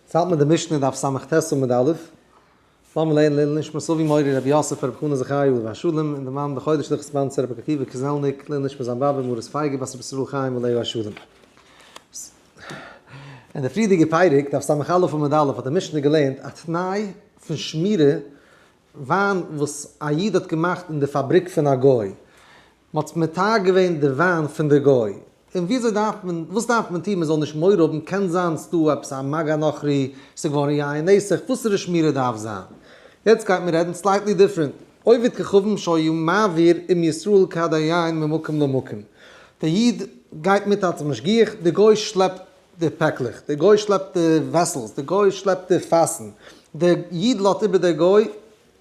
עס האלט מיט די משנה דף סמ ט עמוד א', לאמיר לערנען לעילוי נשמת אבי מורי רבי יוסף רבי חנא זכרי' עליו השלום און די מאן דחודש דורך ספאנסער רבי עקיבא קוזעלניק, לעילוי נשמת זיין באבע מרת פייגא בת רבי ישראל חיים עליו השלום. אין די פריערדיגע פרק, דף סמ א עמוד א', האט די משנה געלערנט א תנאי פון שמירה, וויין וואס א איד האט געמאכט אין די פאבריק פון א גוי, מ'האט מתיר געווען די וויין פון די גוי, און וויאזוי דארף מען, וואס דארף מען טון מען זאל נישט מורא האבן, קען זיין ס'דא עפעס א מג א נוכרי, ס'איז געווארן יין נסך, וואסערע שמירה דארף זיין? יעצט גייט מען רעדן סלייטלי דיפרענט, עובד כוכבים שהיו מעביר עם ישראל כד היין ממקום למקום, די איד גייט מיט אלס משגיח, די גוי שלעפט די פעקלעך, די גוי שלעפט די וועסעלס, די גוי שלעפט די פאסן, די איד לאזט איבער די גוי,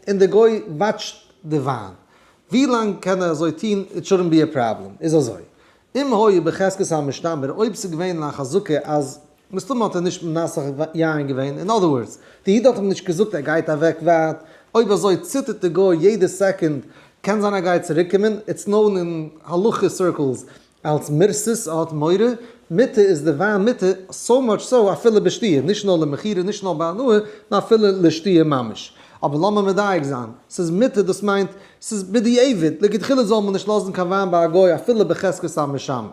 און די גוי וואטשט די וויין ווי לאנג קען ער אזוי טון איט שורנט בי ע פראבלעם איז אזוי אם היה בחזקת המשתמר אויב סאיז געווען א חזקה אז מסתמא האט ער נישט מנסך יין געווען אין אדער ווארדס די איד האט אים נישט געזאגט ער גייט אוועק ווייט אויב אזוי ציטערט די גוי יעדע סעקונד קען זיין ער גייט צוריקומען איטס נאון אין הלכה סירקלס אלס מרסס האט מורא מיתה איז די וויין מיתה, סאו מאטש סאו אפילו בשתיה, נישט נאר למכירה נישט נאר בהנאה, נאר אפילו לשתיה ממש. אבער לאמיר מדייק זיין, ס'איז מיתה דאס מיינט ס'איז בדיעבד, לכתחילה זאל מען נישט לאזן קיין וויין ביי א גוי אפילו בחזקת המשמר.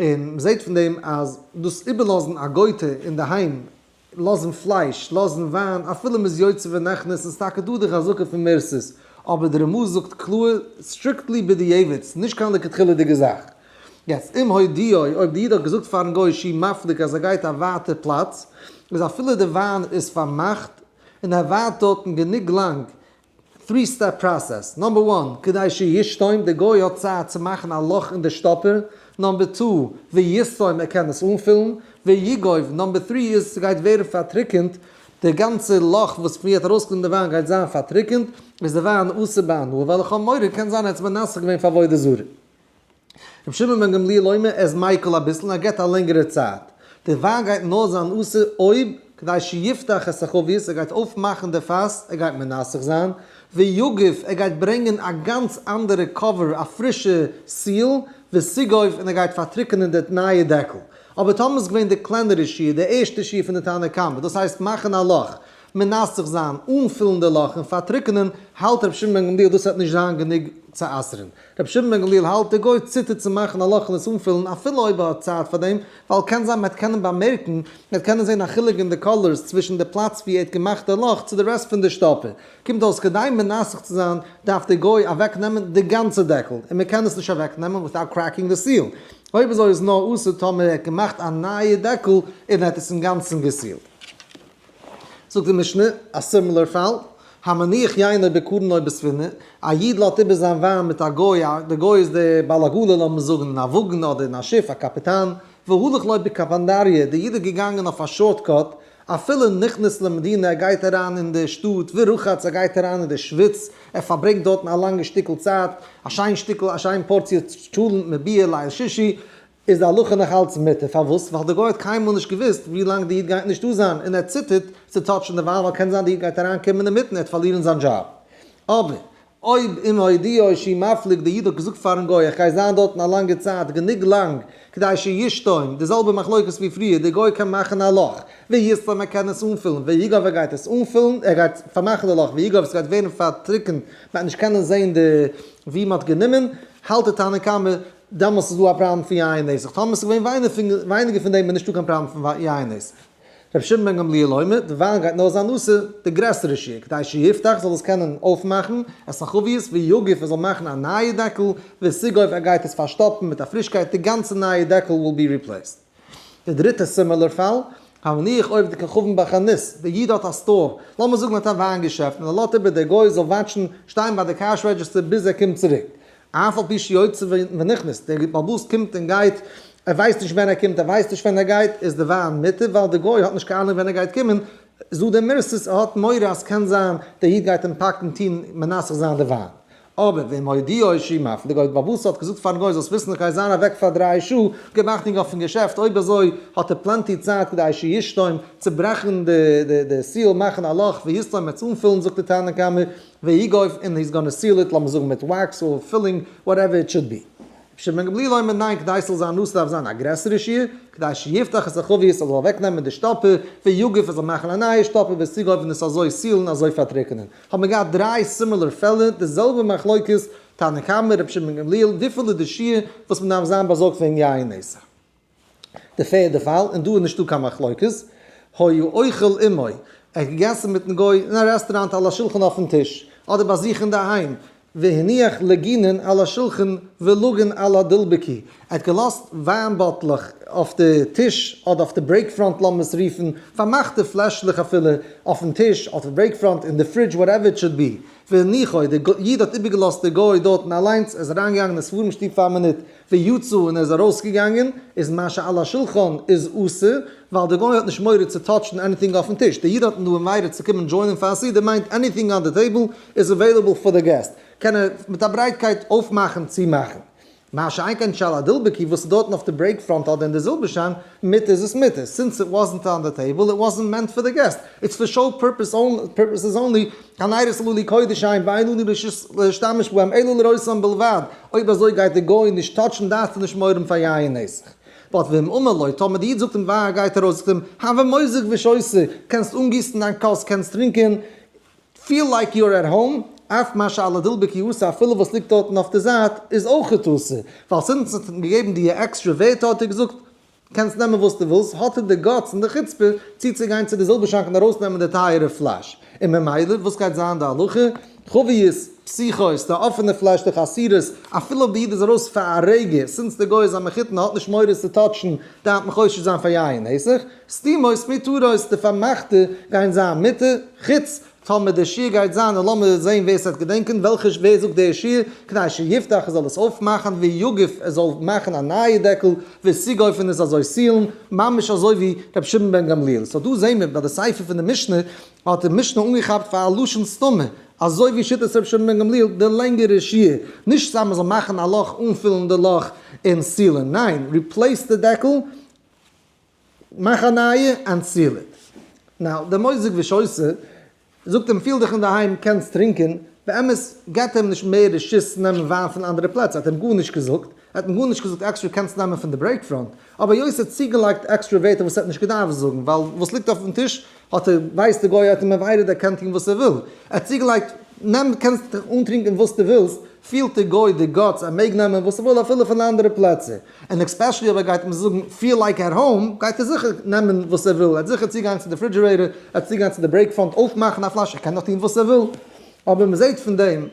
און מ'זעט פון דעם אז דאס איבערלאזן א גוי'טע אינדערהיים, לאזן פלייש, לאזן וויין, אפילו מ'איז יוצא ונכנס, ס'איז טאקע דא די חזקה פון מערסערס, אבער די רמא זאגט קלאר, סטריקטלי בדיעבד, ס'איז נישט קיין לכתחילה'דיגע זאך. יעצט, אם הודיעו, אויב די איד האט געזאגט פארן גוי שי' מפליג אז ער גייט א ווייטע פלאץ, איז אפילו די וויין איז פארמאכט, און ער ווארט דארטן גענוג לאנג, טרי סטעפ פראסעס, נאמבער וואן, כדי שיסתום, די גוי האט צייט צו מאכן א לאך אין די שטאפער, נאמבער טו, ויסתום, ער קען עס אנפילן, ויגוב, נאמבער טרי איז ס'גייט ווערן פארטריקענט, די גאנצע לאך וואס פון ווי האט ארויסגעקומען די וויין גייט זיין פארטריקענט, איז די וויין אסור בהנאה, וועלכע האמורא קען זיין ער האט עס מנסך געווען פאר עבודה זרה. רבי שמעון בן גמליאל אומר עס מיקל אביסל און ער געבט א לענגערע צייט, די וויין גייט נאר זיין אסור אויב כדי שיפתח את החבית ער גייט אויפמאכן די פאס, ער גייט מנסך זיין, ויגוף ער גייט ברענגען א גאנץ אנדערע קאווער א פרישע סיעל, וסיגוף און ער גייט פארטריקענען די נייע דעקל. אבער טאמער איז געווען די קלענערע שיעור, די ערשטע שיעור פון די תנא קמא, דאס הייסט מאכן א לאך, מנסך זיין, אנפילן די לאך און פארטריקענען, האלט רבי שמעון בן גמליאל דאס וועט נישט זיין גענוג צו אסר'ן, רבי שמעון בן גמליאל האלט דער גוי ציטערט צו מאכן א לאך און עס אנפילן אפילו אויב ער האט צייט פאר דעם, ווייל קען זיין מען וועט קענען באמערקן, מען וועט קענען זען א חילוק אין די קאלערס צווישן די פלאץ ווי ער האט געמאכט דער לאך צו די רעסט פון די שטאפער. קומט אויס כדי מנסך צו זיין דארף דער גוי אוועק נעמען די גאנצע דעקל, און מען קען עס נישט אוועק נעמען וויטאוט קרעקינג די סיעל. אויב אזוי איז נאר אסור טאמער ער האט געמאכט א נייע דעקל און ער האט עס אינגאנצן געסילט. זאגט די משנה א סימילער פאל, המניח יינער בקרנו בספינה, א איד לאזט איבער זיין וויין מיט א גוי, די גוי איז דער בעל עגלה לאמיר זאגן אין א וואגן אדער אין א שיף א קאפיטאן, והלך ליה בקפנדריה, דער איד איז געגאנגען אויף א שארט קאט, אפילו נכנס למדינה ער גייט אריין אין דער שטאט, ורחץ ער גייט אריין אין דער שוויץ, ער פארברענגט דארטן א לאנגע שטיקל צייט, א שיין שטיקל א שיין פארציע טשולענט מביאה ליל שישי, איז די הלכה נאך אלץ מותר, פארוואס? ווייל די גוי האט קיינמאל נישט געוואוסט ווי לאנג די איד גייט נישטא זיין, און ער ציטערט צו טאטשן די וויין ווייל קען זיין די איד גייט אריין קומען אינמיטן ער וועט פארלירן זיין דזשאב, אבער אויב אם הודיעו שהיא מפליג די איד האט געזאגט פארן גוי איך גיי זיין דארטן א לאנגע צייט גענוג לאנג כדי שישתום, די זעלבע מחלוקת ווי פריער, די גוי קען מאכן א לאך, ויסתום ער קען עס אנפילן, ויגעוו ער גייט עס אנפילן, ער גייט פארמאכן די לאך, ויגעוו עס גייט ווערן פארטריקנט, מען גייט נישט קענען זען די ווי מען האט גענומען, האלט די תנא קמא. דעמאלס איז דא א פראבלעם פון יין נסך, טאמער עס איז געווען ווייניגער פון דעם איז נישטא קיין פראבלעם פון יין נסך. רבי שמעון בן גמליאל אומר, די וויין גייט נאר זיין אסור די גרעסערע שיעור, כדי שיפתח זאל עס קענען אויפמאכן עס אין חביות, ויגיף ער זאל מאכן א נייע דעקל, וסיגויף ער גייט עס פארשטאפן מיט א פרישקייט די גאנצע נייע דעקל וויל בי ריפלעיסד. די דריטע סימילער פאל, א נניח עובד כוכבים ביי חנות, די איד האט א סטאר, לאמיר זאגן ער האט א וויין געשעפט, און ער לאזט איבער דער גוי זאל וואטשן, שטיין ביי די קעש רעדזשיסטער ביז ער קומט צוריק, אף על פי שיוצא ונכנס, דער בעל הבית קומט און גייט, ער ווייסט נישט ווען ער קומט, ער ווייסט נישט ווען ער גייט, איז די וויין מותר, ווייל דער גוי האט נישט קיין אנונג ווען ער גייט קומען, איז דא די מרסס, ער האט מורא אז קען זיין דער איד גייט אים פאקן טון מנסך זיין די וויין, אבער ווען מודיע איז שוין מפליג אויף באבוסע האט געזאגט פארן גוי זאלסט וויסן איך גיי זיין אוועק פאר דריי שעה, געמאכט אינג אויפן געשעפט אויב אזוי האט ער פלענטי צייט כדי שיסתום, צוברעכן די סיעל מאכן א לאך ויסתום עס אנפילן זאגט די תנא קמא והי' גויף און היז גאנע סיעל איט לאמיר זאגן מיט וואקס אור פילינג וואטעווער איט שוד בי. רבי שמעון בן גמליאל אומר ניין כדי ס'זאל זיין נאס דארף זיין א גרעסערע שיעור כדי שיפתח את החבית עס זאל אוועקנעמען די שטאפער ויגוף עס זאל מאכן א נייע שטאפער וועסטו גויף און עס אזוי סיעלן אזוי פארטריקענען האט מען געהאט דריי סימילער פעלער, די זעלבע מחלוקת, תנא קמא, רבי שמעון בן גמליאל, וויפיל איז די שיעור וואס מען דארף זיין באזארגט וועגן יין נעשה? די פערדע פאל, און דא איז נישטא קיין מחלוקת, היה אוכל עמו, ער האט געגעסן מיטן גוי אין א רעסטוראנט על השולחן אויפן טיש, אדער ביי זיך אינדערהיים, והניח לגינן על השולחן ולגן על הדלבקי, ער האט געלאזט וויין באטלעך אויף די טיש אדער אויף די ברעיק פראנט לאמיר עס רופן, פארמאכטע פלעשלעך אפילו, אויפן טיש, אדער אויף ברעיק פראנט, אין די פרידזש, וואטעווער איט שאד בי. והניחו, דער איד האט איבערגעלאזט די גוי דארטן אליינס, ער איז אריינגעגאנגען אין ספרים שטוב פאר א מינוט, ויצא און ער איז ארויסגעגאנגען, איז מה שעל השולחן איז אסור, ווייל די גוי האט נישט מורא צו טאטשן עניטינג אויפן טיש, די אידן האטן דא מורא צו קומען דזשוינען פאר א סעודה מיינט עניטינג אן די טעיבל איז עוועילעבל פאר די געסט קען ער מיט א ברייטקייט אויפמאכן צומאכן, מה שאין כן שעל הדלבקי וואס איז דארטן אויף די ברעיק פראנט אדער אין די זילבערשאן, מיט איז עס מיט איז, סינס איט וואזענט אן די טעיבל, איט וואזענט מענט פאר די געסט, איטס פאר שאו פורפעסעס אנלי, קיין עירוב סלולי קודש אין ואין אני ברשות להשתמש בהם אלא לרצון בלבד, אויב אזוי גייט די גוי נישט טאטשן דארפסטו נישט מורען פאר יין און נסך. באט ואם אמר לו, טאמער די איד זאגט אים וויין גייט ער אויס זאגט אים, הוה מוזג ושוסה, קענסט אנגיסן דיין כוס קענסט טרינקען, פיל לייק יו אר עט האום, אף מה שאלה דלבי כי עשה אפילו וואס ליגט דארטן אויף די זייט איז אויכעט אסור, ווייל זינט ס'האט אים געגעבן דיע עקסטרע ווערטער האט ער געזאגט קענסט נעמען וואס דו ווילסט, האט ער די גאטס און די חוצפה צו צו גיין צו די זילבער שאנק און ארויס נעמען די טייערע פלאש, און ממילא וואס גייט זיין די הלכה? חביות, פסיכות, די אפענע פלאש די חסירות, אפילו אויב די איד איז ארויס פאר א רגע, סינס די גוי איז א מחותן האט נישט מורא צו טאטשן, דארף מען חושש זיין פאר יין נסך? סתימות מיתרות, די פארמאכטע גייען זיין מיט חוץ, טאמער דער שיעור גייט זיין און לאמיר זעהן ווער ס'וועט געדענקען וועלכע ווער זאגט דער שיעור, כדי שיפתח ער זאל עס אויפמאכן, ויגף ער זאל מאכן א נייע דעקל, וסיגוף און עס אזוי סיעלן, ממש אזוי ווי ר' שמעון בן גמליאל. סאו דא זעהן מיר ביי די ספר פון די משנה האט די משנה אנגעכאפט פאר א לשון סתומה, אזוי ווי שיטת ר' שמעון בן גמליאל די לענגערע שיעור, נישט סתם מ'זאל מאכן א לאך אנפילן די לאך און סיעלן, ניין, ריפלעיס די דעקל, מאך א נייע אנצילער. נאו דער מוזיק ווישויסער זאגט אים פיל דיך אינדערהיים קענסט טרינקען, באמת געבט ער אים נישט מער רשות נעמען וויין פון אנדערע פלעצער האט ער אים גארנישט געזאגט, ער האט אים גארנישט געזאגט עקסטער קענסט נעמען פון די ברעיק פראנט, אבער יוסי האט צוגעלייגט עקסטערע ווערטער וואס ער האט נישט געדארפט זאגן ווייל וואס ליגט אויפן טיש, האט ער, ווייסט די גוי האט אים עוויידעד ער קען טון וואס ער וויל, ער האט צוגעלייגט נעם קענסט דיך אנטרינקען וואס דו ווילסט, פילט די גוי די גאטס ער מעג נעמען וואס ער וויל אפילו פון אנדערע פלעצער, און עקספעשעלי אויב ער גייט אים זאגן פיל לייק עט האום גייט ער זיכער נעמען וואס ער וויל, ער האט זיכער צוגיין צו די פרידזשירעיטער, ער האט צוגיין צו די ברעיק פאנט אויפמאכן א פלאש, ער קען דאך טון וואס ער וויל, אבער מען זעט פון דעם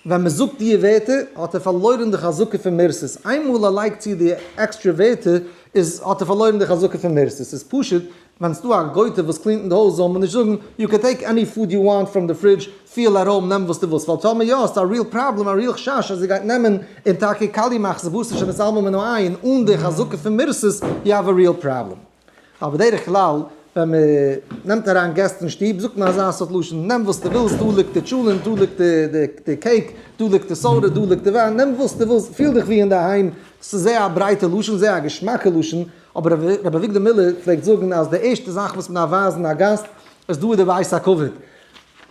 ווען מען זאגט דיע ווערטער האט ער פארלוירען די חזקה פון מערסעס, איינמאל ער לייגט צו די עקסטרע ווערטער איז האט ער פארלוירען די חזקה פון מערסעס, איז פשוט ווען סדא א גויטע וואס קלינט אין די הויז זאל מען נישט זאגען יו קען טעיק עני פוד יו וואנט פראם די פרידזש, פיל ארום, נעם וואס דו ווילסט, ווייל טאמער יא האסטו א ריעל פראבלעם, א ריעל חשש אז ער גייט נעמען און טאקע קאליע מאכסט ווארסט נישט און עס אלמא מנא עיין אן די חזקה פון מערסעס יו האוו א ריעל פראבלעם. ווייל בדרך כלל ווען מען נעמט אריין געסט אין שטוב זאגט מען אזא סארט לשון, נעם וואס דו ווילסט, דא ליגט די טשולענט, דא ליגט די קעיק, דא ליגט די סאדע, דא ליגט די וויין, נעם וואס דו ווילסט, פיל דיך ווי אינדערהיים, דאס איז זייער א ברייטע לשון, זייער א געשמאקע לשון, אבער ר' אביגדור מילער פלעגט זאגן אז די ערשטע זאך וואס מען דארף ווייזן א גאסט איז דא איז די בית הכבוד,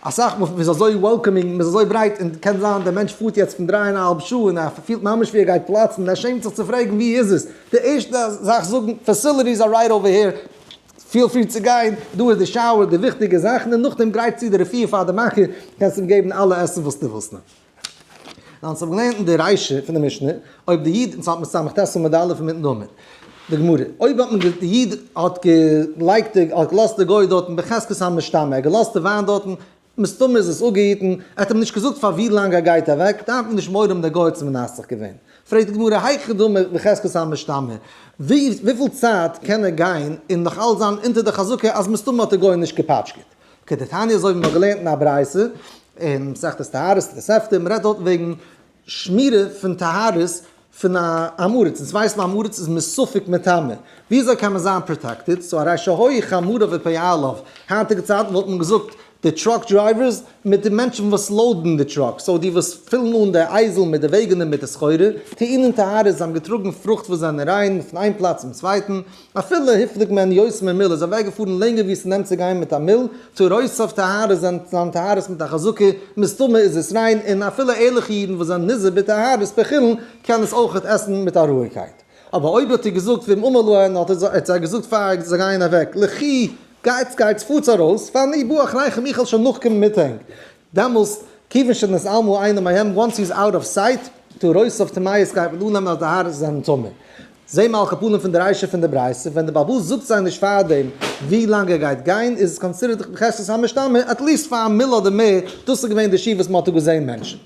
אסאך מאל מ'איז אזוי וועלקאמינג, מ'איז אזוי ברייט, און קען זיין דער מענטש פארט יעצט פון דריי און א האלב שעה און ער פילט ממש ווי ער גייט פלאצן און ער שעמט זיך צו פרעגן ווי איז עס, די ערשטע זאך זאגן פעסיליטיס אר רייט אווער העיר, פיל פרי צו גיין, דא איז די שאוער, די וויכטיגע זאכן, און נאכדעם גרייט צו די רעפיר פאר די מאכער, קענסט אים געבן אלע עסן וואס דו ווילסט נאר. ווייל אונז האבן געלערנט אין די רישא פון די משנה, אויב די איד, אונז האלט מיט סמך טעסטעל מיט די אלף און מיטן דאמר, די גמרא, אויב האט מען די איד האט געלייגט די, האט געלאזט די גוי דארטן בחזקת המשתמע, ער האט געלאזט די וויין דארטן, מסתמא איז עס אפגעהיטן, ער האט אים נישט געזאגט פאר ווי לאנג ער גייט אוועק, דארף מען נישט מורא האבן דער גוי האט עס מנסך געווען. פרעגט די גמרא, היכי דמי בחזקת המשתמע, וויפיל צייט קען ער גיין און נאכאלץ זיין אונטער די חזקה אז מסתמא האט די גוי נישט געפאטשקעט? אקעי די תניא אזוי ווי מ'האט געלערנט אין א ברייתא אין מסכת טהרות תוספתא מ'רעדט דארט וועגן שמירה פון טהרות פון א עמארעץ אונז ווייסן א עמארעץ איז מסופק מטמא ווי אזוי קען מען זיין פראטעקטעד סאו הרי שהוי חמורא ופאה עליו היינטיגע צייטן וואלט מען געזאגט די טראק דרייווערס מיט די מענטשן וואס לאודן די טראק סאו די וואס פילן אן די אייזל מיט די וועגענער מיט די סחורה טענה'ן טהרות זיי האבן געטראגן פרוכט וואס זענען ריין פון איין פלאץ צום צווייטן אפילו היפליג מען יוס מען מיל איז אוועק געפארן לענגער ווי עס נעמט צו גיין מיט א מיל, צו רויס אויף טהרות זענט זיין טהרות מיט א חזקה, מסתמא איז עס ריין, און אפילו ערליכע אידן וואס זענען נזהר בטהרות פעכילן קען עס אויכעט עסן מיט א רואיגקייט. אבער אויב האט איר געזאגט ואם אמר להם האט ער זיי געזאגט פאר זיי גייען אוועק, לכי, גייטס גייטס פארטס ארויס, ואני בא אחריכם איך העל שוין נאכקומען מיט ענק, דעמאלס כיוון שאין את עלמו עיני מהם, וואנס הי איז אוט אוו סייט, טו ראוס אוו טמאות גייט מען אננעמען אז די הארץ זענען טמא. זעה מעל קאפאלן פון די ריישא פון די ברייתא, ווען די בעלבאס זאגט זיי נישט פארדעם ווי לאנג ער גייט גיין, איז עס קאנסידערט בחזקת המשתמע, עטליסט פאר א מילא אדער מער, דאס איז געווען די שיעור וואס מען האט דא געזעהן מענטשענט.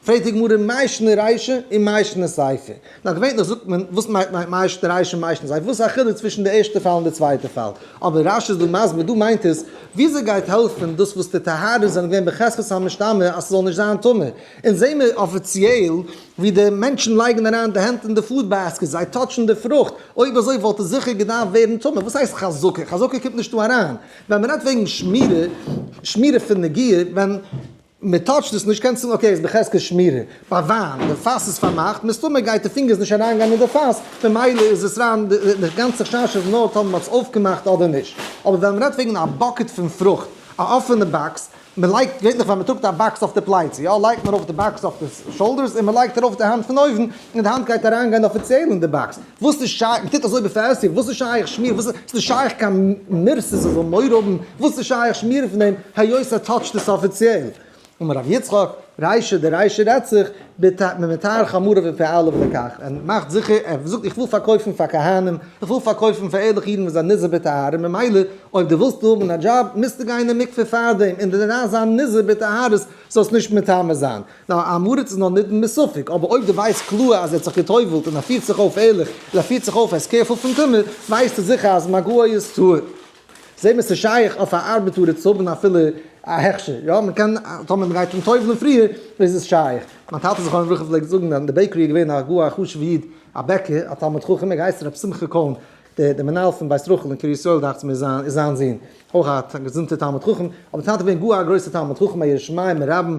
פרעגט די גמרא מאי שנא רישא און מאי שנא סייפא. נאר געווענליך זאגט מען וואס מיינט מיינט מאי שנא רישא און מאי שנא סייפא, וואס איז א חילוק צווישן די ערשטע פאל און די צווייטע פאל? אבער רשי איז דא מסביר, דא מיינט עס וויאזוי גייט העלפן דאס וואס די טהרות זענען געווען בחזקת המשתמע אז ס'זאל נישט זיין טמא, אונז זעהן מיר אפיציעל ווי די מענטשן לייגן אריין די הענט אין די פוד בעסקעט, זיי טאטשן די פרוכט, אויב אזוי וואלט עס זיכער געדארפט ווערן טמא, וואס הייסט חזקה? חזקה קומט נישט דא אריין, ווען מ'רעדט וועגן שמירה, שמירה פון נגיעה, ווען. מען טאטשט עס נישט, קענסט זאגן אקעי איז בחזקת שמירה, ביי וויין די פאס איז פארמאכט מסתמא גייט די פינגערס נישט אריין גיין אין די פאס ממילא איז עס ריין, די גאנצע חשש איז נאר טאמער מען האט עס אויפגעמאכט אדער נישט, אבער ווען מען רעדט וועגן א באקעט פון פרוכט, א אפענע באקס, מען לייגט געווענליך ווען מען טראגט א באקס אויף די פלייצע יא לייגט מען ארויף די באקס אויף די שאולדערס און מען לייגט ארויף די האנט פון אויבן און די האנט גייט אריין גיין אפיציעל אין די באקס, וואס איז שייך, מ'טוט אזוי בפעסיוו, וואס איז שייך שמיר, וואס איז נישט שייך קיין מיר ס'זאל זאל מורא האבן, וואס איז שייך שמיר פון דעם, היות ער טאטשט עס אפיציעל. אמר ר' יצחק, ריישא דריישא רעדט זיך, ביטע מען מטהר חמוריו ופעליו לכך, ער מאכט זיכער, ער זאגט איך וויל פארקויפן פאר כהנים, איך וויל פארקויפן פאר ערליכע אידן וואס זענען נזהר בטהרה, ממילא אויב דו ווילסט האבן א דזשאב, מוזטו גיין אין מקווה פארדעם, און דערנאך זיין נזהר בטהרות זאלסט נישט מטמא זיין. א הארץ איז נאר נידון מספק, אבער אויב דו ווייסט קלאר אז ער האט זיך גע'טובל'ט און ער פירט זיך אויף ערליך און ער פירט זיך אויף ער איז קעירפול פון טומאה, ווייסטו זיכער אז מגע איז טהור. זעה מען ס'איז שייך אויף א ארבעטארער צו האבן אפילו א הכשר, יא מ'קען טאמער מ'גייט אים טובל'ן פריער איז עס שייך. מיין טאטע זכרונו לברכה פלעגט זאגן אז אין די בעיקערי איז געווען א גאר א חשוב'ע איד א בעקער א תלמיד חכם ער געהייסן ר' שמחה קאהן דער דער מנהל פון בית רחל אין קרית ישראל דאכטס מיר איז איז זיין זון אויך א געזונטער תלמיד חכם, אבער טאטע איז געווען גאר א גרויסער תלמיד חכם א ירא שמים רבם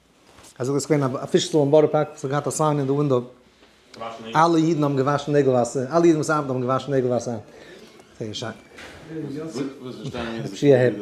אזוי איז געווען א פיש סטאר אין בארא פארק וואס האט געהאט א סיין אין די ווינדאו, אלע אידן האבן געוואשן נעגל וואסער, אלע אידן וואס ארבעטן האבן געוואשן נעגל וואסער. זייער שיין. שיהיה העפי.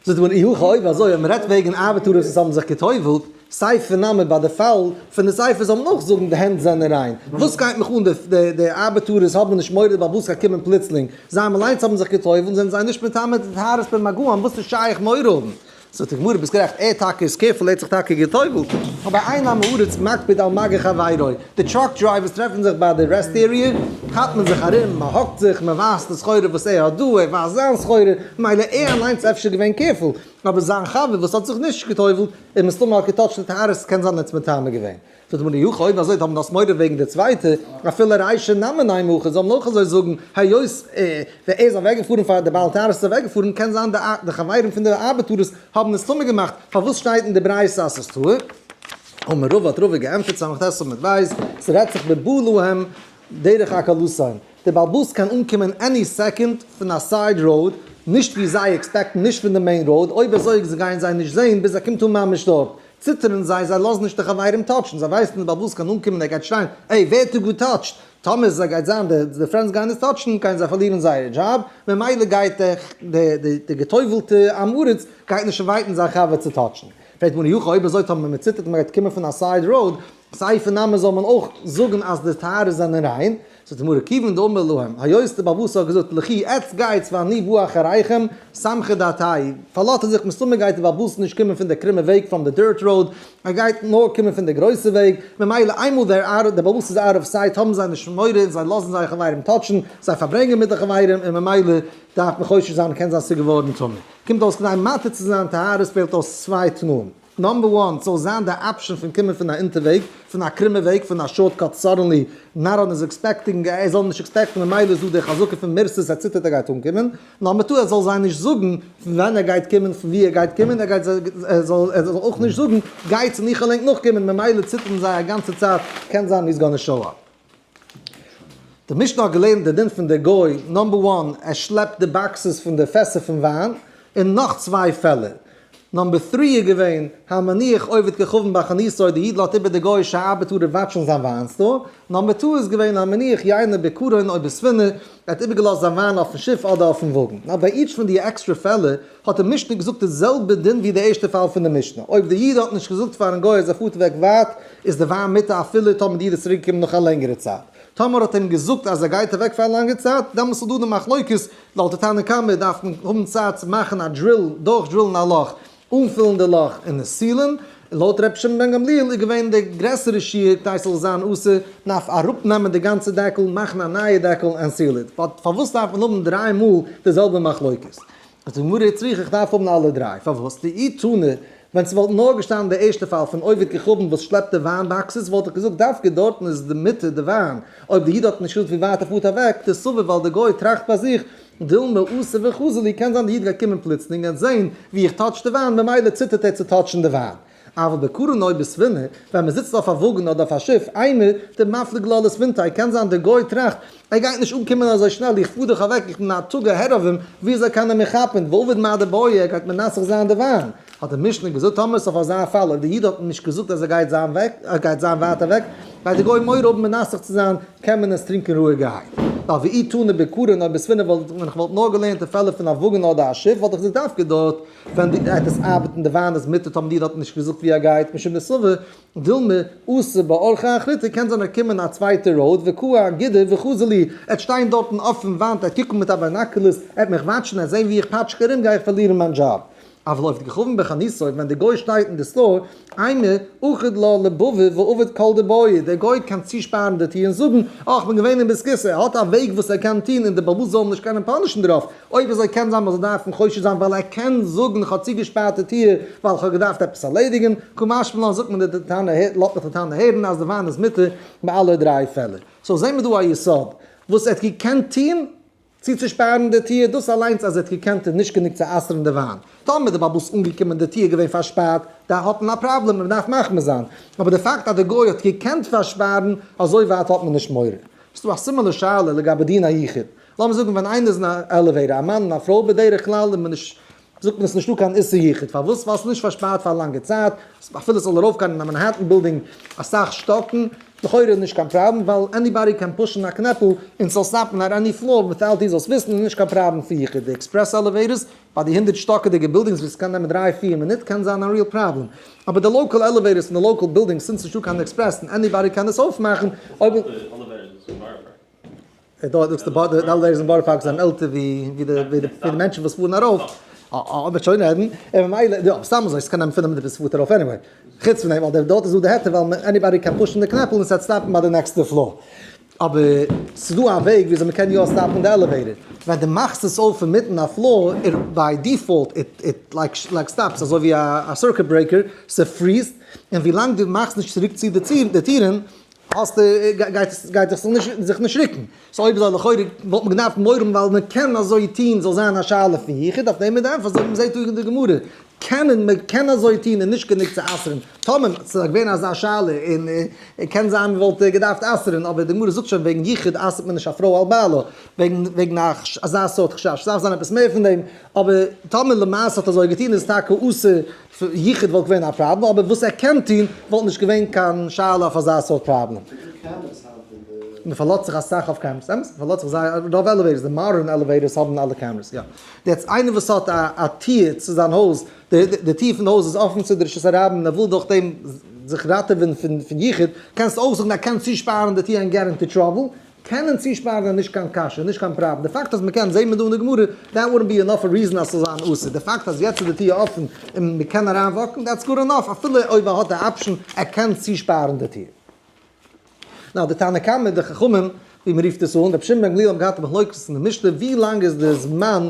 זאגט מען אי הכא אויב אזוי אויב מען רעדט וועגן ארבעטארער וואס האבן זיך גע'טובל'ט, סיי פון נאמען ביי די פאל פון די ספר זאל מען אויך זאגן די הענט זענען ריין, וואס גייט מיך אן די די ארבעטארערס האבן נישט מורא די בעל הבית גייט קומען פלוצלינג, זיי האבן אליינס האבן זיך גע'טובל'ט זענען זיי נישט מטמא די טהרת פון מגעים וואס איז שייך מורא האבן זאגט די גמרא ביסט גערעכט ער טאקע איז קעירפול ער האט זיך טאקע גע'טובל'ט אבער איין עם הארץ מקפיד על מגע חברו די טראק דרייווערס טרעפן זיך ביי די רעסט עריע כאפט מען זיך ארום מען האגט זיך מען ווייזט די סחורה וואס ער האט דא ער ווייזט זיין סחורה מילא ער אליינס איז אפשר געווען קעירפול אבער זיין חבר וואס האט זיך נישט גע'טובל'ט איז מסתמא האט געטאטשט די טייערס ס'קען זיין ער האט עס מטמא געווען זאגט הגמ' יוכ אויב אזוי האבן דאס מורא וועגן די צווייטע אפילו ריישע נאמן עמו ח זאל מען אויך אזוי זאגן היות ער איז אוועק געפארן פאר די בעל טענות איז אוועק געפארן קען זיין די חברים פון די ארבעט טורות האבן עס טמא געמאכט פארוואס שטייט אין די ברייתא אז ס'איז טהור אמר רבא האט רבא געענטפערט סמך ט עמוד ב' ס'רעדט זיך בבהלוהם דרך הקלסיים די בעל באס קען אנקומען עני סעקאנד פון א סייד ראוד נישט ווי זיי עקספעקטן נישט פון די מעין ראוד אויב אזוי גייען זיי נישט זעהן ביז ער קומט אן ממש דארט ציטערן זיי, זיי לאזן נישט די חברים טאטשן, זיי ווייסן נישט ביי וואס ס'קען אנקומען, ער גייט שרייען, עי ווער האט דא געטאטשט? טאמער סע גייט זיין די די פרענדס גייען עס טאטשן, גייען זיי פארלירן זייערע דזשאב, ממילא גייט די די די די געטובלטע עם הארץ גייט נישט אינווייטן זיין חבר צו טאטשן. פרעגט מוהרא י, אויב אזוי טאמער מ'ציטערט מ'גייט קומען פון א סייד ראוד, סיי פון נאמען זאל מען אויך זאגן אז די טהרות זענען ריין, זאגט די גמרא כיוון דאמר להם היות די באבא סאל האט געזאגט לכי עטס גייטס ואני בא אחריכם סמכי דעתאי פארלאזט ער זיך מסתמא גייט די באבא סאל נישט קומען פון די קרומע וועג פראם די דירט ראוד ער גייט נאר קומען פון די גרויסע וועג ממילא איינמאל דער ארט די באבא סאל איז אוט אוו סייט האבן זיי נישט מורא און זיי לאזן זייער חברים טאטשן זיי פארברענגען מיט די חברים און ממילא דארף מען חושש זיין קען זיין ס'איז געווארן טמא קומט אויס כדי מטהר צו זיין טהרות פעלט אויס צוויי תנאים. נאמבער וואן, ס'זאל זיין די אפשען פון קומען פון א אונטערוועג, פון א קרומע וועג, פון א שארטקאט, סאדענלי, נאראן איז עקספעקטינג, ער זאל נישט עקספעקטן, ממילא איז דא די חזקה פון מערסעס, ער ציטערט ער גייט אנקומען, נאמבער טו, ער זאל זיי נישט זאגן פון ווען ער גייט קומען, פון ווי ער גייט קומען, ער גייט ער זאל ער זאל אויך נישט זאגן גייטס און איך העל ענק נאכקומען, ממילא ציטערן זיי א גאנצע צייט, קען זיין הי'ס גאנע שאו אפ. די משנה האט געלערנט די דין פון די גוי נאמבער וואן ער שלעפט די באקסעס פון די פעסער פון וויין און נאך צוויי פעלער, נאמבער טרי איז געווען המניח עובד ככבן בחניתו די איד לאזט איבער די גוי'שע ארבעטארער וואטשן זיין וויין סטאר, נאמבער טו איז געווען המניח יין בקרון או בספינה ער האט איבערגעלאזט זיין וויין אויפן שיף אדער אויפן וואגן, נאר ביי איטש פון דיע עקסטרע פעלער. האט די משנה געזאגט די זעלבע דין ווי די ערשטע פאל פון די משנה, אויב די איד האט נישט געזאגט פארן גוי אז ער פארט אוועק ווייט איז די וויין מיתה אפילו טאמער די איד איז צוריק געקומען נאך א לענגערע צייט, טאמער האט ער אים געזאגט אז ער גייט אוועק פאר א לאנגע צייט דעמאלטס איז דא די מחלוקת, לויט די תנא קמא דארף מען האבן צייט צו מאכן א דריל, דורך דרילן א לאך, אנפילן די לאך און עס סילען, און לויט רבי שמעון בן גמליאל איז געווען די גרעסערע שיעור כדי ס'זאל זיין אסור, מען דארף אראפ נעמען די גאנצע דעקל, מאכן א נייע דעקל, און סיל איט, באט פארוואס דארף מען האבן דריי מאל די זעלבע מחלוקת? זאגט די גמרא איך צריך איך דארף האבן אלע דריי, פארוואס? לאי תנא, ווען ס'וואלט נאר געשטאנען די ערשטע פאל פון עובד ככבן וואס שלעפט די וויין באקסעס וואלט איך געזאגט דווקא דארטן איז די מיתה די וויין, אויב די איד האט נישט שולד פון ווייט ער פארט אוועק, די סבה ווייל די גוי טראכט ביי זיך דילמא עשה וכזלי קען זיין די איד גייט קומען פלוצלינג ענד זעהן ווי איך טאטש די וויין ממילא ציטערט ער צו טאטשן די וויין. אבל בקרן אויב איז ספינה ווען מען זיצט אויף א וואגן אדער אויף א שיף איינער דער מפליג לא לספינתי' קען זיין דער גוי טראכט ער גייט נישט אנקומען אזוי שנעל איך פאר דאך אוועק איך בין א תג אהער אויף אים ווי אזוי קען ער מיר כאפן ועובד מעט די בויע ער גייט מנסך זיין די וויין האט די משנה געזאגט טאמער איז אויף אזא פאל אויב די איד האט נישט געזאגט אז ער גייט זיין אוועק ער גייט זיין ווייט אוועק גייט די גוי מורא האבן מנסך צו זיין קען מען עס טרינקען רואיגערהייט ווייל ואי תנא בקרן אויב איז ספינה וואלט ווען איך וואלט נאר געלערנט אין פעלער פון א וואגן אדער א שיף וואלט איך געזאגט דווקא דארט ווען דו גייט עס ארבעטן די וויין איז מיטב האבן דיר דארטן נישט געזאגט ווי ער גייט משום די סבה דילמא אסור באורחא אחריתא קען זיין ער קומט אין א צווייטע ראוד וקוה אגידה וכז לי ער וועט שטיין דארטן אויפן וואנט ער וועט קוקן מיט א ביינאקולערס ער וועט מיך וואטשן ער וועט זען ווי איך פאטש קירום גיי איך פארלירן מיין דזשאב אויב לויפט געווארן בחניתות ווען די גוי שטייט אין די סטאר. איינער, אחד לא לבבי ועובד כל דבויי, דער גוי קען צושפארן די טיר און זאגן, אה, כ'בין געווען אין ביסקיסע, ער האט א וועג וואס ער קען טון און די באבאס זאלן נישט קענען פאנישן דערויף, אויב אזוי קען זיין מ'זאל דארפן חושד זיין ווייל ער קען זאגן כ'האב צוגעשפארט די טיר ווייל כ'האב געדארפט עפעס ארלעדיגן, כמשמע לן זאגט מען די טענה הערט, לאט מיך די טענה הערן אז די וויין איז מותר ביי אלע דריי פעלער. סאו זעהן מיר דא א יסוד וואס ער האט געקענט טון צו צושפארן די טיר, דאס אליינס אז ער האט געקענט איז נישט גענוג צו אסר'ן די וויין. טאמער איז די באבא ס אנגעקומען און די טיר איז געווען פארשפארט, דאן האט מען א פראבלעם און מען דארף מחמיר זיין, אבער די פאקט אז די גוי האט געקענט פארשפארן, אזוי ווייט האט מען נישט מורא. ס'איז דא א סימן לשאלה לגבי דין היחיד. לאמיר זאגן ווען איינער איז אין א עלעוועיטאר, א מאן און א פרוי, בדרך כלל איז מען נישט. זאגט מען עס נישטא קיין איסור יחוד, פארוואס ווייל עס איז נישט פארשפארט פאר א לאנגע צייט, אפילו עס זאל ארויפגיין אין א מאנהעטן בילדינג אסאך שטאקן, לכאורה נישט קיין פראבלעם, ווייל עניבאדי קען פושן א קנעפל און עס זאל סטאפן אט עני פלאר וויטאוט דו זאלסט וויסן, איז נישט קיין פראבלעם פאר יחוד, די עקספרעס עלעוועיטערס ביי די הונדערט שטאקיגע בילדינגס וואס עס קען נעמען דריי פיר מינוט קען זיין א ריעל פראבלעם, אבער די לאקאל עלעוועיטערס פון די לאקאל בילדינגס, סינס נישטא קיין עקספרעס און עניבאדי קען עס אויפמאכן, אויב איז. און דארט זאגסטו בארט די עלוועיטערס אין בארא פארק זענען עלטער ווי ווי די ווי די מענטשן וואס פארן ארויף, אויב מען שוין רעדן, און ממילא יא סתם אזוי ס'קען נעמען פֿינף מינוט ביז ס'פארט ארויף עניוועי, חוץ פון דעם ווייל דער דארט איז דא די היתר ווייל עניבאדי קען פושן די קנעפל און ס'וועט סטאפן ביי די נעקסטע פלאר, אבער ס'איז דא א וועג וויאזוי מען קען יא סטאפן די עלעוועיטער, ווען די מאכסט עס אויף אינמיטן א פלאר איט ביי דיפאלט איט איט לייק לייק סטאפס אזוי ווי א סירקוט ברעיקער ס'פריזט, און ווילאנג די מאכסט נישט צוריק צו די טירן האסט גייט עס זיך נישט ריקן. סאו אויב איז לכאורה וואלט מען געדארפט מורא האבן ווייל מען קען אזוי טון זאל זיין א שאלה פון יחוד אויף דעם איז די ענפער אזוי ווי מ'זעט דא אין די גמרא קענען מען קען אזוי טון איז נישט גענוג צו אסר'ן טאמער ס'איז געווען אזא שאלה און קען זיין מ'וואלט געדארפט אסר'ן אבער די גמרא זאגט שוין וועגן יחוד אסר'ט מען נישט א פרוי על בעלה וועגן וועגן אזא סארט חשש ס'דארף זיין עפעס מער פון דעם אבער טאמער למעשה האט אזוי געטון איז טאקע אסור צו יחיד וואלט געווען א פראבלעם, אבער וואס ער קען טון וואלט נישט געווען קיין שאלה אויף אזא סארט פראבלעם. מען פארלאזט זיך אסאך אויף קעמערעס, אמת, מען פארלאזט זיך זייער אויף די עלעוועיטערס, די מאדערן עלעוועיטערס האבן אלע קעמערעס, יא. יעצט איינער וואס האט א טיר צו זיין הויז, די טיר פון די הויז איז אפן צו די רשות הרבים, ער וויל דורך דעם זיך ראטעווען פון יחיד, קענסטו אויך זאגן ער קען צושפארן די טיר ענד געט אינטו טראבל, קענען צושפארן איז נישט קיין קשיא, נישט קיין פראבלעם, די פאקט אז מ'קען, זעהט מען דא אין די גמרא, דעט וואלנט בי ענאף א ריזען אז ס'זאל זיין אסור, די פאקט אז יעצט איז די טיר אפען און מ'קען אריין וואקן, דעטס גאר ענאף, אפילו אויב ער האט די אפשען, ער קען צושפארן די טיר. נאו, די תנא קמא, די חכמים, ווי מ'רופט עס אן, רבי שמעון בן גמליאל האבן געהאט מחלוקת אין די משנה, ווי לאנג איז די זמן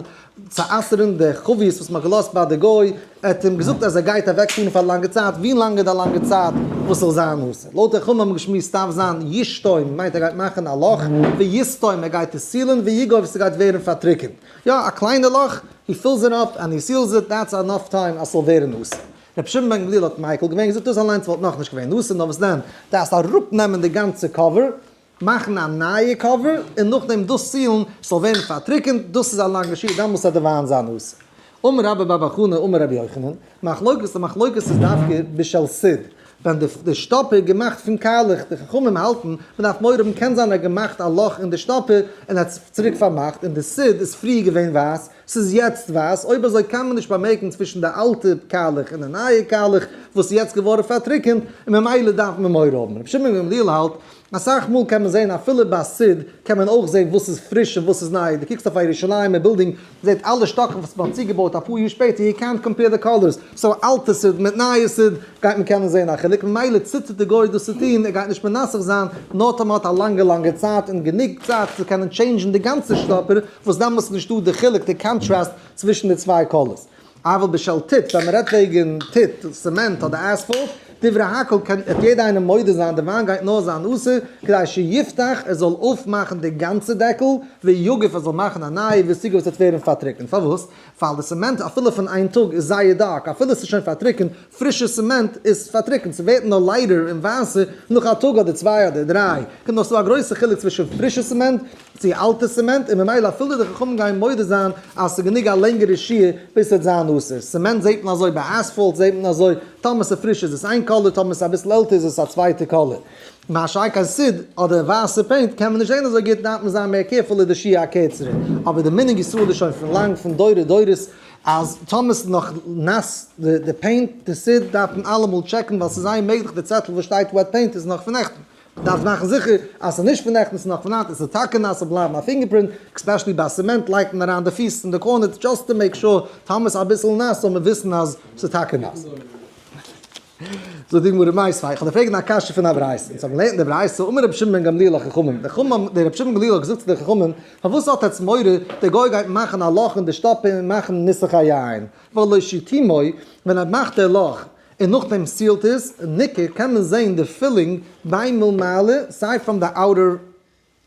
צו אסר'ן די חביות וואס מ'האט געלאזט ביי די גוי, ער האט אים געזאגט אז ער גייט אוועק פארן פאר א לאנגע צייט, ווי לאנג איז די לאנגע צייט וואס ס'זאל זיין אסור? לויט די חמ א האט מען געשמועסט טארף זיין ישתום מיינט ער גייט מאכן א לאך, ויסתום ער גייט עס סילען, ויגוב ס'גייט ווערן פארטריקענט, יא א קליינע לאך, הי פילס איט אפ ענד הי סילס איט, דעטס ענאף טיים אז ס'זאל ווערן אסור. רבי שמעון בן גמליאל האט מיקל געווען, געזאגט דאס אליינס וואלט נאכנישט געווען אסור, נאר וואס דען, דארפסט אראפנעמען די גאנצע קאווער, מאכן א נייע קאווער און נאכדעם דאס צילן ס'זאל ווערן פארטריקענט, דאס איז א לאנגע שיעור, דאן מוז ער דערוויילן זיין נושא. אמר רבא בר בר חנה אמר רבי יוחנן, מחלוקת, די מחלוקת איז דווקא בשל סיד, ווען די די שטאפער איז געמאכט פון קארלעך, די חכמים האלטן מ'דארף מורא האבן קען זיין ער האט געמאכט א לאך אין די שטאפער און ער האט עס צוריק פארמאכט און די סיד איז פריער געווען ווייס ס'איז יעצט ווייס, אויב אזוי קיין מען נישט באמערקן צווישן די אלטע קאלעך און די נייע קאלעך וואס איז יעצט געווארן פארטריקענט, און ממילא דארף מען מורא האבן. רבי שמעון בן גמליאל האלט, אסאך מאל קען מען זען אפילו ביי סיד קען מען אויך זען וואס איז פריש און וואס איז ניי, דו קוקסט אויף א ירושלימ'ער בילדינג, זעט אלע שטאקן וואס מען האט צוגעבויט אפאר יאר שפעטער, יו קענט קאמפעיר די קאלערס, סאו אלטע סיד מיט נייע סיד גייט מען קענען זען א חילוק, ממילא ציטערט די גוי דאס צו טון, ער גייט נישט מנסך זיין, נאר טאמער מען האט א לאנגע לאנגע צייט און גענוג צייט צו קענען טשעינדזשן די גאנצע שטאפער, וואס דעמאלס איז נישטא די חילוק, די קאנטראסט, צווישן די צוויי קאלערס. אבל בשל טיט, ווען מ'רעדט וועגן טיט, סעמענט אדער אספאלט, דברי הכל קען עפ יעדע איינער מודה זיין די וויין גייט נאר זיין אסור כדי שיפתח ער זאל אויפמאכן די גאנצע דעקל, ויגף ער זאל מאכן א נייע וויסיגע וואס וועט ווערן פארטריקנט. פארוואס? ווייל די סעמענט אפילו פון איין טאג איז זייער דארק, אפילו ס'איז שוין פארטריקנט, פרישע סעמענט איז פארטריקנט, ס'ווערט נאר לייטער און ווייסער נאך א טאג אדער צוויי אדער דריי, קומט נאך צו א גרויסע חילוק צווישן פרישע סעמענט צו אלט טעסטעמענט און ממילא אפילו די חכמים גייען מודה זיין אז עס איז גענוג א לענגערע שיעור ביז עס וועט זיין אסור. סעמענט זעט מען אזוי ביי אספאלט זעט מען אזוי, טאמער עס איז פריש איז עס איין קאליר טאמער עס איז אביסל עלטער איז עס א צווייטע קאליר. מה שאין קיין סיד אדער ווייסע פעינט קען מען נישט זען אזוי גוט דארף מען זיין מער קערפול איז די שיעור א קערצערע. אבער די מנהג ישראל איז שוין פון לאנג פון דורי דורות אז טאמער עס איז נאך נאס די פעינט די סיד דארף מען אלעמאל טשעקן ווייל עס איז זייער מעגליך די צעטל וואס שטייט וועט פעינט איז נאך פון נעכטן דארפסט מאכן זיכער אז ס'איז נישט פון נעכטענס נאך פון היינט, עס איז טאקע נאס זאל בלייבן א פינגער פרינט, עקספעשעלי ביי סעמענט לייגט מען אריין די פיס אין די קארנערס דזשאסט טו מעיק שור, טאמער ס'איז אביסל נאס זאל מען וויסן אז ס'איז טאקע נאס. זאגט די גמרא מאי ספיקא, איך האב דיר פרעגן א קשיא פון א ברייתא, אונז האבן געלערנט אין די ברייתא אמר רבי שמעון בן גמליאל לחכמים, די חכמים האבן, דער רבי שמעון בן גמליאל האט געזאגט צו די חכמים, פארוואס האט עטץ מורא, דער גוי גייט מאכן א לאך אין די שטאפע און מאכן נוסח היין, ולא שיתימוי, ווען ער מאכט דער לאך, און נאכדעם סיעלט עס, און ניכר קען מען זעהן די פילינג ביי מלמעלה, סיי פראם די אוטער,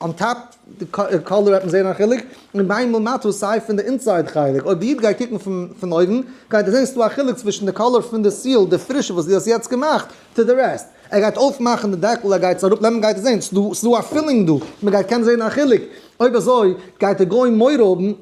אן טאפ די קאלער וועט מען זעהן א חילוק, און ביי מלמטה סיי פון די אינסייד חלק, אויב די איד גייט קוקן פון אויבן גייט ער זעהן ס'דא א חילוק צווישן די קאלער פון די סיעל די פרישע וואס די האסט יעצט געמאכט טו די רעסט, ער גייט אויפמאכן די דעקל ער גייט עס אראפ נעמען גייט ער זעהן ס'דא א פילינג דא, מ'גייט קענען זעהן א חילוק, אויב אזוי גייט די גוי מורא האבן.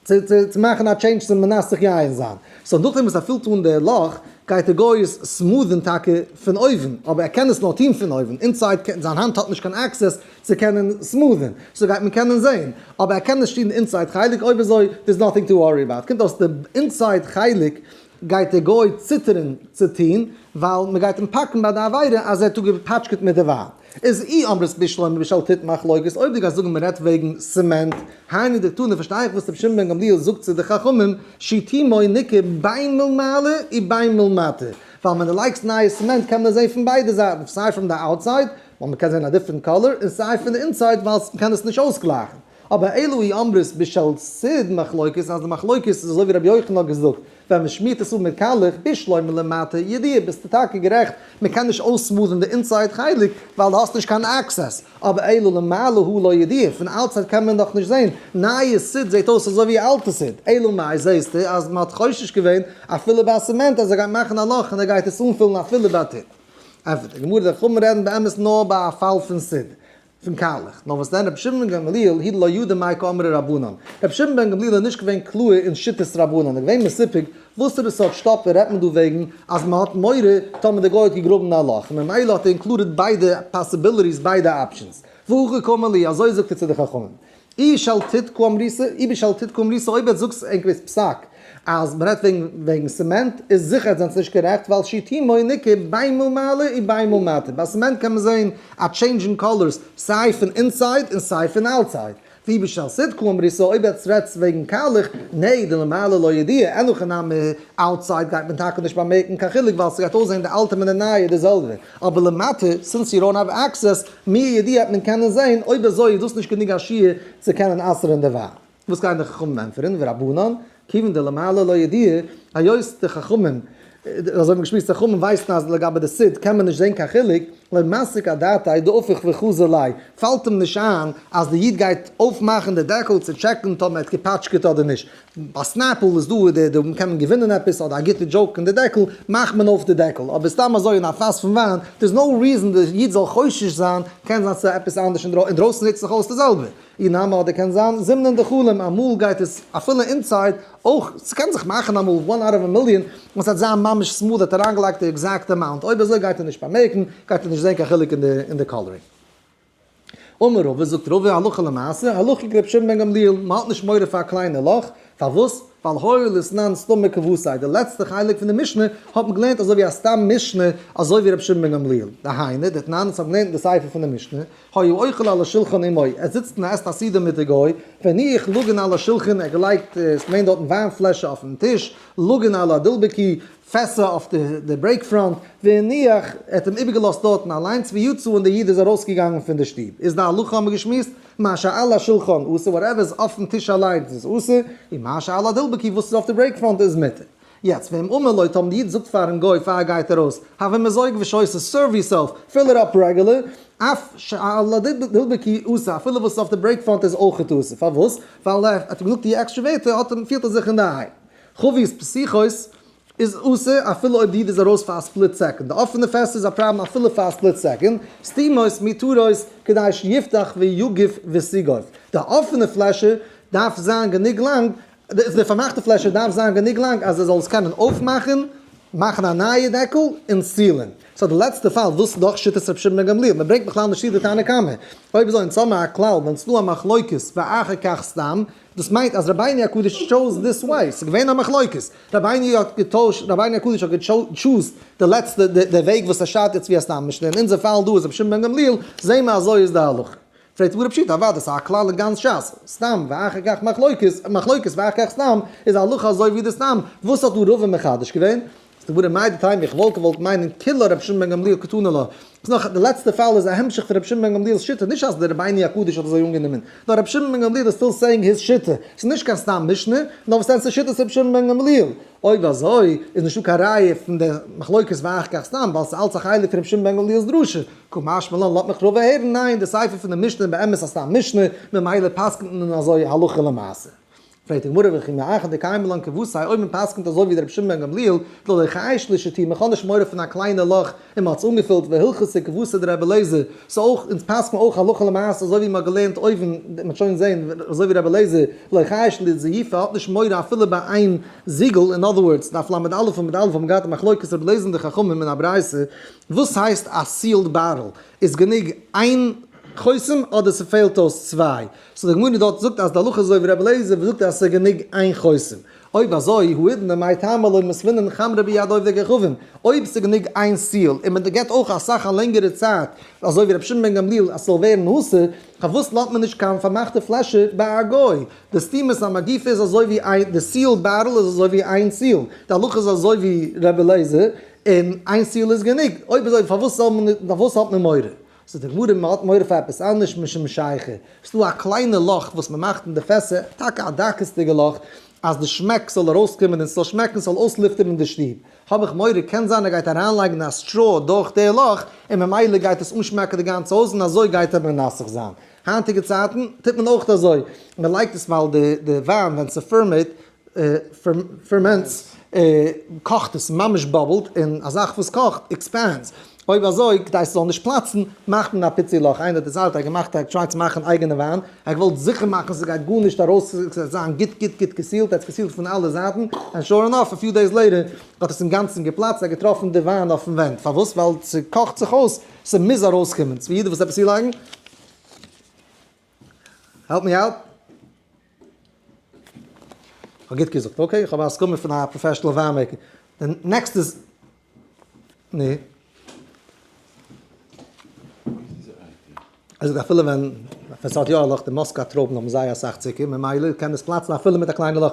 צו צו מאכן א טשעינדזש צו מנסך יין זיין, סאו נאכדעם וואס ער פילט אן די לאך גייט ער גאר סמוד'ן טאקע פון אויבן, אבער ער קען עס נאר טון פון אויבן, אינסייד זיין האנט האט נישט קיין עקסעס צו קענען סמוד'ן, סאו גייט מען קענען זען, אבער ער קען נישט טון די אינסייד חלק, אויב אזוי דערס נאטינג טו ווארי אבאוט, קומט אויס די אינסייד חלק גייט דער גוי ציטערן צו טוהן, ווייל מען גייט אים פאקן ביי די עבירה אז ער האט אפגעפאטשקעט מיט די ווייב. איז אי אמר ר' שלמה בשל ת ת מחלוקת, אויב די גייסט זאגן מען רעדט וועגן סעמענט, היינו דער תנא, פארשטיי איך וואס רבי שמעון בן גמליאל זאגט צו די חכמים, שיטי מוה ניכר בין מלמעלה ובין מלמטה, ווייל ווען די לייגסט נייע סעמענט קען מען עס זעהן פון ביידע זייטן, סיי פראם די אוטסייד, ווייל מען קען זעהן א דיפרענט קאלער, און סיי פון די אינסייד, ווייל מען קען עס נישט אויסגלייכן. אבער אלו היא אמרות בשל סוד מחלוקת אז די מחלוקת איז אזוי ווי רבי יוחנן האט געזאגט ווען מען שמירט עס אפ מיט קאלעך בשלו מלמטה ידיעה ביסטו טאקע גערעכט מען קען נישט אויסמאלן די אינסייד חלק ווייל די האסט נישט קיין עקסעס אבער אלו למעלה הוא לא ידיעה פון אוטסייד קען מען דאך נישט זעהן נייע סוד זעהט אויס אזוי ווי אלטע סוד אלא מאי זעהסטו אז מען האט חושש געווען אפילו ביי סעמענט אז ער גייט מאכן א לאך און ער גייט עס אנפילן אפילו בעתיד. ענפערט די גמרא די חכמים רעדן באמת נאר ביי א פאל פון סוד פון קארליך. נאר וואס דען רבי שמעון בן גמליאל היד לא ידע מאי כאמרי רבנן. רבי שמעון בן גמליאל איז נישט געווען קלאהר אין שיטת רבנן. ער איז געווען מסופק וואסערע סארט שטאפער רעדט מען דא וועגן אז מען האט מורא טאמער דער גוי האט געגראבן א לאך. ממילא האט ער אינקלודעד ביידע פאסיביליטיס ביידע אפשענס. והא ריק אמר לי, אזוי זאגט ער צו די חכמים. אי שלתית קא אמריסא, אי בשלתית קא אמריסא, אויב עטס זאגטס ענק ווערטס פסק אז מען רעדט וועגן סעמענט, איז זיכער עטס זענטס נישט גערעכט ווייל שיטים מויל ניכר ביינמאל מעלה און ביינמאל מטה, ביי סעמענט קען מען זעהן א טשעינדזש אין קאלערס סיי פון אינסייד און סיי פון אוטסייד, ואי בשלתית קא אמריסא, אויב עטס רעדטס וועגן קאלעך, נעה דלמעלה לא ידיע, אין הכי נמי, אוטסייד גייט מען טאקע נישט באמערקן קיין חילוק ווייל ס'גייט אויסזעהן די אלטע מיט די נייע די זעלבע, אבער למטה, סינס יו דאונט האוו עקסעס, מי יודע וועט מען קענען זעהן, אויב אזוי איז דאס נישט גענוג א שיעור צו קענען אסר'ן די וויין. וואס גייען די חכמים ענטפערן, ורבנן, כיוון דלמעלה לא ידיעה, היות די חכמים, אזוי האבן געשמועסט די חכמים, ווייסן אז לגבי די סיד קען מען נישט זעהן קיין חילוק, לא מסיק א דעתאי דהפיך וחזו ליה, פאלט אים נישט איין אז די איד גייט אויפמאכן די דעקל צו טשעקן טאמער ער האט געפאטשקעט אדער נישט, ביי סנעפל איז דא די די קען מען געווינען עפעס אדער א גוטע דזשאוק און די דעקל מאכט מען אויף די דעקל אבער סתם אזוי אין א פאס פון וויין דער איז נאו ריזען די איד זאל חושש זיין קען זיין סאיז עפעס אנדערש אינדרויסן נוצט זיך אויס די זעלבע אי נאמר אדער קען זיין זימנען די חלום אמאל גייט עס אפילו אינסייד אויך סקען זיך מאכן אמאל וואן אוט אוו א מיליאן און סהאט זיין ממש סמאל האט אריינגעלייגט די עקזעקט אמאונט אויב אזוי גייט ער נישט באמערקן גייט ער נישט זען קיין חילוק אין די אין די קאלערינג. אמר רבא, זאגט רבא, הלכה למעשה, הלכה'דיג רבי שמעון בן גמליאל, מ'האט נישט מורא פאר א קליינע לאך, פארוואס? ווייל הויל איז סנן סתום מקבוצי, די לעצטע חלק פון די משנה האט מען געלערנט אזוי ווי א סתם משנה, אזוי ווי רבי שמעון בן גמליאל, דהיינו, די תנאנעס האבן געלערנט אין די ספר פון די משנה, היה אוכל על השולחן עמו, ער זיצט און ער עסט א סעודה מיט די גוי, והניח לאגן על השולחן, ער האט געלייגט, ס'מיינט דארטן וויין פלעשער אויפן טיש, לאגן על הדלבקי, פעסער אויף די ברעיק פראנט, ונניח ער האט אים איבערגעלאזט דארטן אליינס, ויצא און דער איד איז ארויסגעגאנגען פון די שטוב, איז די הלכה האבן מיר געשמועסט, מה שעל השולחן אסור, וואטעווער איז אויפן טיש אליינס איז אסור, און מה שעל הדלבקי וואס איז אויף די ברעיק פראנט איז מותר. יעצט וועם אמר לויט האבן די איד זאגט פארן גוי פאר ער גייט ארויס, הווי מזויג ושויסע, סערוו יור סעלף, פיל איט אפ רעגולער, אף שעל הדלבקי אסור, אפילו וואס איז אויף די ברעיק פראנט איז אויכעט אסור, פארוואס? ווייל ער האט אים געזאגט יעקשט שווערטער האט אים פירט ער זיך אינדערהיים, חבית פסיכות איז אסור אפילו אויב די איד איז ארויס פאר א ספליט סעקאנד. די אפענע פעסטער איז א פראבלעם אפילו פאר א ספליט סעקאנד. סתימות מותרות כדי שיפתח ויגיף וסיגוף. די אפענע פלעשער דארף זיין גענוג לאנג, די פארמאכטע פלעשער דארף זיין גענוג לאנג אז ער זאל עס קענען אויפמאכן, מאכן א נייע דעקל און סילען. סא די לעצטע פאל ווילסטו דאך שיטת רבי שמעון בן גמליאל, מען ברענגט בכלל נישט צו די תנא קמא. אויב אזוי אונז האבן א כלל ווען ס'דא א מחלוקת ואחר כך סתם. דאס מיינט אז רבינו הקדוש טשוז דיס וועי, ס'איז געווען א מחלוקת, רבינו האט געטוישט, רבינו הקדוש האט געטשוזט די לעצטע די וועג וואס ער שרייבט יעצט ווי א סתם משנה, אין אונזער פאל דא איז רבי שמעון בן גמליאל, זעה מיר אזוי איז די הלכה. פרעגט הגמרא פשיטא, אוודאי ס'איז א כלל אין גאנץ שס, סתם ואחר כך מחלוקת, מחלוקת ואחר כך סתם, איז א הלכה אזוי ווי די סתם, וואס האט דא רבא מחדש געווען? סדבורא מאי דתימה, איך וואלט געוואלט מיינען כולו רבי שמעון בן גמליאל קטונא לו. ס'נאך, די לעצטע פאל איז א המשך פון רבי שמעון בן גמליאל'ס שיטה, נישט אז דער רבי'ן הקדוש האט אזוי אנגענומען, נאר רבי שמעון בן גמליאל איז סטיל סעיאינג היז שיטה, ס'איז נישט קיין סתם משנה, נאר וואס ענס איז שיטת רבי שמעון בן גמליאל, אויב אזוי איז נישטא קיין ראיה פון די מחלוקת ואח כ סתם ווייל ס'איז אלץ א חלק פון רבי שמעון בן גמליאל'ס דרשה, כה משמע לן לאט מיך רובא הערן, ניין, די ספר פון די משנה איז באמת א סתם משנה, ממילא פסק'נט מען אזוי הלכה למעשה. פרעגט די גמרא וכי מאחד דקיימא לן כבוס ה' אויב מען פסק'נט אזוי ווי דער רבי שמעון בן גמליאל לא לחי שלישתי' מען האט נישט מורא פון א קליינע לאך און מען האט עס אנגעפילט והלכתא כבוסא דרבי אלעזר סאו אויך אונז פסק'ן אויך הלכה למעשה אזוי ווי מען האט געלערנט אויבן מען האט שוין געזען אזוי ווי רבי אלעזר לא חי שלישי' האט נישט מורא אפילו ביי איין זיגל אין אדער ווארדס דף ל' עמוד א' עמוד א' האבן מיר געהאט א מחלוקת רבי אלעזר און די חכמים אין א ברייתא וואס הייסט א סיעלד בארעל איז גענוג איין חותם אדער ס'פעלט אויס צוויי סא די גמרא דארט זאגט אז די הלכה איז אזוי ווי רבי אליעזר וואס זאגט אז עס איז גענוג איין חותם. אויב אזוי הוא אידנא מאי טעמא לא מסמינן חמרא ביד עובדי כוכבים, אויב עס איז גענוג איין סיעל און מען געט אויך אסאך א לענגערע צייט אזוי ווי רבי שמעון בן גמליאל אז עס זאל ווערן האסר, פארוואס לאזט מען נישט קיין פארמאכטע פלעשער ביי א גוי? די סתימת המגיפה איז אזוי ווי איין, די סיעל בארל איז אזוי ווי איין סיעל, די הלכה איז אזוי ווי רבי אליעזר און איין סיעל איז גענוג, אויב אזוי פארוואס האט מען מורא? ס'איז די גמרא מ'האט מורא פאר עפעס אנדערש משום שייכי, ס'דא א קליינע לאך וואס מ'מאכט אין די פעסער, טאקע א דקות'דיגע לאך, אז די שמעק זאל ארויסקומען און ס'זאל שמעקן, ס'זאל אויסלופטערן די שטוב, האב איך מורא קען זיין ער גייט אריינלייגן א סטרא דורך די לאך און ממילא גייט עס אנשמעקן די גאנצע הויז און אזוי גייט ער מנסך זיין, היינטיגע צייטן טוט מען אויך אזוי, מ'לייגט עס ווייל די וויין ווען ס'פערמעיט פערמענטס, קאכט עס, ממש באבלט, און א זאך וואס קאכט עקספענדס, אויב אזוי כדי ס'זאל נישט פלאצן מאכט מען א פיצי לאך, איינער האט דערציילט ער האט געמאכט ער האט געטרייט צו מאכן אייגענע וויין, ער האט געוואלט זיכער מאכן ס'גייט גארנישט ארויס ס'זאל זיין גוט גוט גוט געסיעלט, ער האט עס געסיעלט פון אלע זייטן, ענד שור אינאף א פיו דעיס לעיטער האט עס אינגאנצן געפלאצט, ער האט געטראפן די וויין אויפן ווענט, פארוואס? ווייל ס'קאכט זיך אויס, ס'מוז ארויסקומען, ס'ווי יעדער וואס עפעס צולייגן, העלפ מי אוט. כ'האב גוט געזאגט? אקעי, כ'האב א הסכמה פון א פראפעשענעל וויין מעיקער. די נעקסטע איז. נו? ער זאגט אפילו ווען ווען ס'האט יא א לאך, די מאסקא טרויבן האבן זייער אסאך צוקער, ממילא קען עס פלאצן אפילו מיט א קליינע לאך.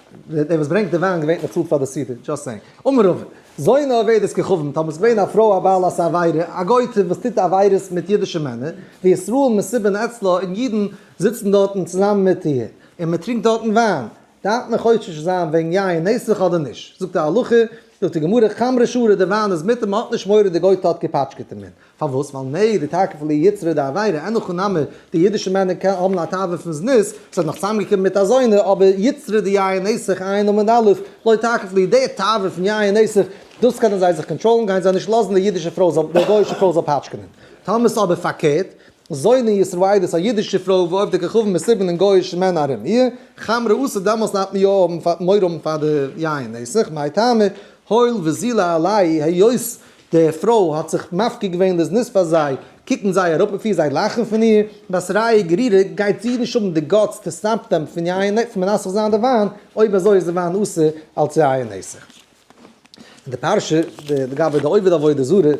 דער וואס ברענגט די וויין געווענליך צאלט פאר די סידור, דזשאסט סעינג. אמר רב, זונה אובדת ככבן, טאמער ס'איז געווען א פרוי א בעלת עבירה, א גויטע וואס טוט עבירות מיט אידישע מענער, וישראל מסיבין אצלה, און אידן זיצן דארטן צוזאמען מיט איר, און מען טרינקט דארטן וויין, דארף מען חושש זיין וועגן יין נסך אדער נישט? זאגט די הלכה, זאגט די גמרא, חמרא שרע, דער וויין איז מותר, מען האט נישט מורא די גויטע האט געפאטשקעט אים. פארוואס? ווייל נע די תוקף פון די יצרי דעבירה, אין הכא נמי די אידישע מענער האבן א תאווה פון זנות, עס האט נאך צוזאמגעקומען מיט אזוינע, אבער יצרי די יין עסך, עיין עמוד א', לא תוקף לי, די תאווה פון יין עסך, דאס קענען זיי זיך קאנטראלן, גייען זיי נישט לאזן די אידישע פרוי זאל, די גוי'אישע פרוי זאל פאטשקענען. טאמער איז אבער פארקערט, זוינע ישראליות א אידישע פרוי וואו אויף די כוכבים איז סיבן און גוי'אישע מענער ארום איר, חמרא אסור, דעמאלס דארף מען יא האבן מורא האבן פאר די יין עסך, מאי טעמא, הואיל וזילה עלי' היות די פרוי האט זיך מפקיר געווען לזנות פאר זיי, קוקן זיי אראפ אויף איר, זיי לאכן פון איר, וואס רייע גערירער, גייט זי נישט האבן די גאטס צו סטאפן פון יין און פון מנסך זיין די וויין, אויב אזוי איז די וויין אסור אלץ יין און נסך. אין די פרשה לגבי די עובד עבודה זרה,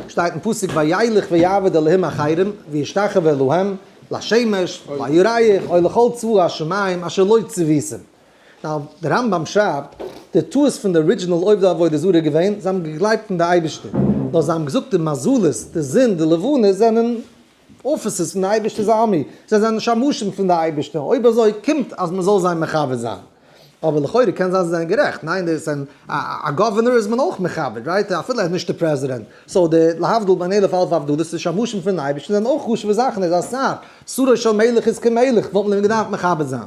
שטייט אין פסוק וילך ויעבד אלהים אחרים וישתחוה להם, לשמש, לירח, או לכל צבא השמים אשר לא צוויתם, נאו, דער רמב ם שרייבט, די טעות פון די ארידזשינעל עובדי עבודה זרה איז געווען, זיי האבן געגלייבט אין די אייבערשטער, נאר זיי האבן געזאגט די מזלות, די זון, די לבנה זענען אפיסעס פון די אייבערשטער'ס ארמי, זיי זענען שמשים פון די אייבערשטער, אויב אזוי קומט אז מען זאל זיי מכבד זיין. אבער לכאורה קען זיין זיי זענען גערעכט, ניין דאס זענען, א גאווערנער איז מען אויך מכבד, רייט? אפילו ער איז נישט דער פרעזידענט, סאו די להבדיל בין אלף אלפי הבדלות, די שמשים פונעם אייבערשטן זענען אויך חשוב'ע זאכן, ער איז א שר, שרו של מלך איז כמלך, וואלט מען אים געדארפט מכבד זיין.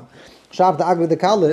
שרייבט די אגרא דקלה,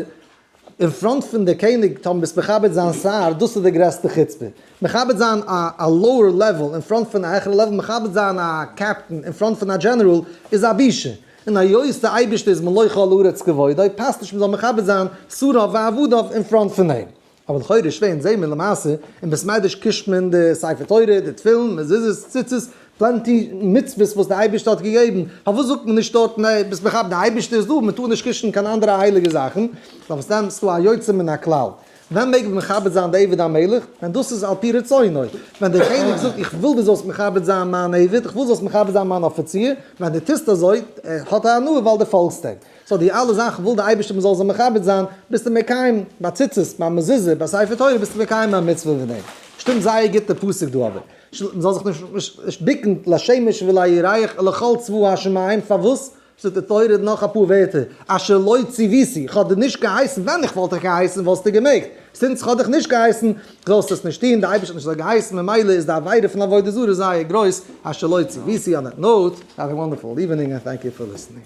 אין פראנט פון די קעניג טאר מען נישט מכבד זיין שר, דאס איז די גרעסטע חוצפה. מכבד זיין א לאוער לעוועל אין פראנט פון א העכערע לעוועל, מכבד זיין א קעפטן אין פראנט פון א דזשענעראל, איז א בושה. און היות די אייבערשטער איז מלא כל הארץ כבודו, פאסט נישט מען זאל מכבד זיין שריו ועבדיו אין פראנט פון אים. אבער לכאורה איז שווער אונז זעהן מיר למעשה אין בית מדרש קושט מען די ספר תורה, די תפילין, מזוזות, ציצית, פלענטי מצוות וואס די אייבערשטער האט געגעבן, פארוואס זאגט מען נישט דארטן עה ביסט מכבד די אייבערשטער איז דא מען טאר נישט קושן קיין אנדערע הייליגע זאכן, מן הסתם איז דא א יוצא מן הכלל, ווען מעג מען מכבד זיין די עבד המלך? ווען דאס איז על פי רצונו, ווען דער קעניג זאגט איך וויל דו זאלסט מכבד זיין מיין עבד, איך וויל זאלסט מכבד זיין מיין אפיציר, ווען דו טוסט אזוי האט ער הנאה ווייל דו פאלגסט אים. סאו די אלע זאכן וויל די אייבערשטער מען זאל זיי מכבד זיין, ביסטו מקיים ביי ציצית, ביי מזוזה, ביי ספר תורה, ביסטו מקיים א מצוה ווי דעם. שטימט זייער גוט די פסוק דא אבער. מען זאל זיך נישט ביקן לשמש ולירח ולכל צבא השמים, פארוואס? שטייט אין תורה נאך אפאר ווערטער, אשר לא ציוויתי, איך האב דיר נישט געהייסן, ווען איך וואלט דיך געהייסן וואלסטו געמעגט, זינט איך האב דיך נישט געהייסן זאלסטו עס נישט טון, די אייבערשטער האט נישט אזוי געהייסן, ממילא איז די עבירה פון עבודה זרה זייער גרויס, אשר לא ציוויתי, אן דעט נאוט, האוו א וואנדערפול איווענינג ענד טענק יו פאר ליסענינג.